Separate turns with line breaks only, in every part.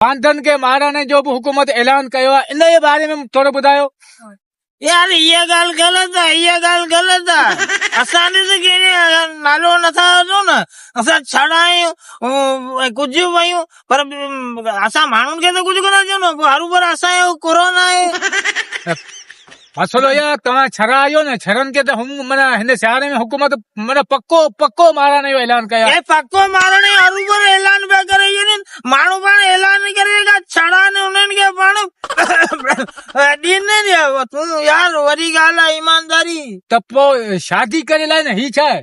باندن کي مارڻ جو به حڪومت اعلان ڪيو آهي ان جي باري ۾ ٿورو ٻڌايو. يار
اها ڳالهه غلط آ اها ڳالهه غلط آ اسان به ته ڪنهن جو نالو نه ٿا وٺون نه اسان ڇڙا آهيون ۽ ڪجهه به آهيون پر اسان ماڻهن کي ته ڪجهه ڪونه ٿا چئون نه پوء هروڀرو اسان جو ڪرو ناهي. مسئلو
اهو آهي توهان ڇرا آهيو نه ڇرن کي ته هم معنی هن سياري ۾ حڪومت معنی پڪو پڪو مارڻ جو اعلان ڪيو آهي پڪو مارڻ جو
هروڀرو اعلان پيا ڪري وڃن ماڻهو پاڻ اعلان ڪري رکيا ڇڙا آهن انهن کي پاڻ ڏين نه ڏيا تون يار وڏي ڳالهه آهي ايمانداري ته پوء
شادي ڪري لاء نه هي ڇا آهي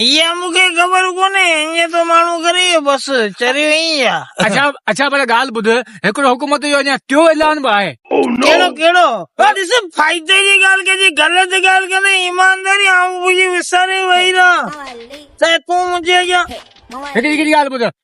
اها مون کي
خبر ڪونهي، ايئن ٿو ماڻهو ڪري، بس چريو ائين ئي آ. اڇا اڇا پر ڳالهه ٻڌ،
هڪڙو حڪومت جو اڃا ٽيون اعلان به آهي. ڪهڙو ڪهڙو؟
اها ڏس فائدي جي ڳالهه ڪجي، غلط ڳالهه ڪندين ايمانداري آئون به وساري ويئي رهان ته تون منهنجي اڳيان. هڪڙي هڪڙي ڳالهه
ٻڌ،